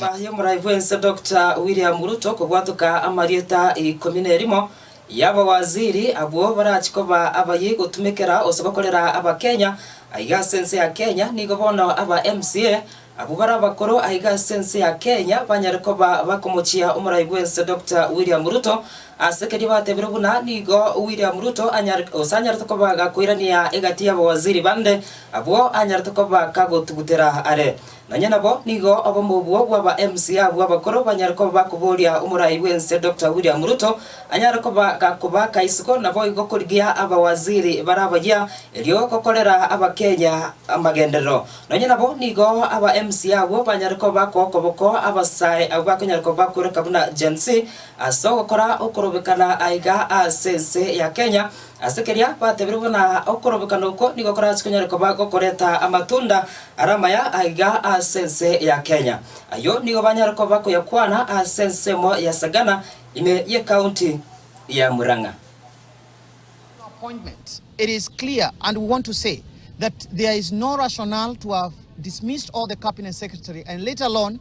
Nyuma y'omorai bw'ense Doctor William Ruto kobwatoka amarieta ikomi nerimo y'abawaziri abwo barachie koba abayia gotumekera gose gokorera Abakenya aiga ase ense ya Kenya, nigo bono aba MCA abwo bare abakoro aiga ase ense ya Kenya banyare koba bakomochia omorai bw'ense Doctor William Ruto ase keria batebiirwe buna nigo William Ruto gose anyarete koba gakoirania egati y'abawaziri bande abwo anyarete koba kagotugutera are. Nonya nabo nigo obomo obwo bw'aba MC abwo abakoro banyare koba bakoboria omorai bw'ense Doctor William Ruto anyare koba gakoba kaisiko naboigo korigia abawaziri bare abayia erio gokorera Abakenya amagenderero. Nonya nabo nigo aba MC abwo banyare koba bakookoboko abasae abwo bakonyara koba bakoreka buna Gen-z ase ogokora okorobekana aiga ase ense ya Kenya Ase keria batebire buna okorobekana oko nigo korase konyare koba gokoreta amatunda are amaya aiga ase ense ya Kenya. Ayio nigo banyare koba koyakwana ase ensemo ya Sagana ime y'ecounty ya Murang'a. no appointment, it is clear and we want to say that there is no rationale to have dismissed all the cabinet secretary and let alone